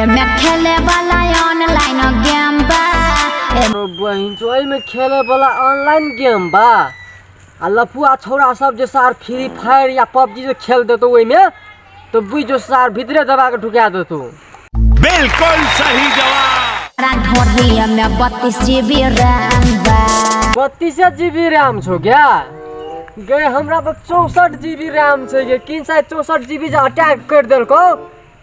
एमे खेले वाला ऑनलाइन गेम बा तो बहिन तो एहिमे खेले वाला ऑनलाइन गेम बा आ लफुआ छौड़ा सब जे सार फ्री फायर या पबजी जे खेल देतो ओहिमे तो बुझ जो सार भीतरे दबा के ढुका देतो बिल्कुल सही जवाब हमरा ढोढ़िया में बत्तीस जीबी रैम बा बत्तीसे जीबी रैम छो क्या गए हमरा पर चौसठ जीबी रैम छै गे किन साइड चौसठ जीबी जे अटैक कर देलको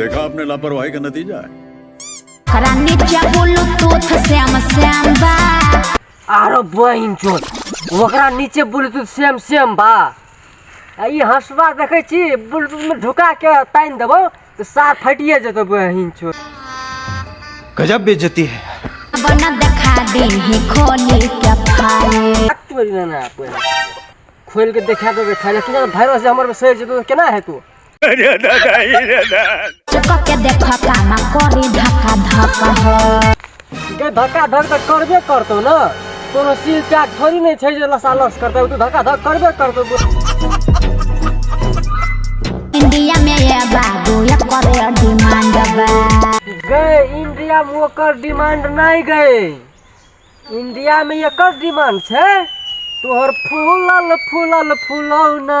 देखा आपने लापरवाही का नतीजा है खरा नीचे बोलो तो श्याम श्याम बा आरो बहिन चोद ओकरा नीचे ब्लूटूथ सेम सेम बा आ ई हंसबा देखै छी ब्लूटूथ में ढुका के तानि देबो तऽ सार फटिए जेतौ बहिन चोद गजब बेइज्जती है बना देखा दे ही खोली के फाइल तोरी ना ना कोइ खोलि के देखा देबै खाली कि भाइरस जे हमर सहि जेतौ तऽ केना हेतौ चुका के देख कामा करी धक्का धक्का हो के धक्का धक तऽ करबे करतौ ने कोनो सील चाक थोड़ी नहि छै जे लसालस करतै ओ तऽ धक्का धक करबे करतौ इंडिया में ये बाबू ये करे डिमांड बा गए इंडिया में ओकर डिमांड नहि गए इंडिया में एकर डिमांड छै तोहर फूलल फूलल फूलौना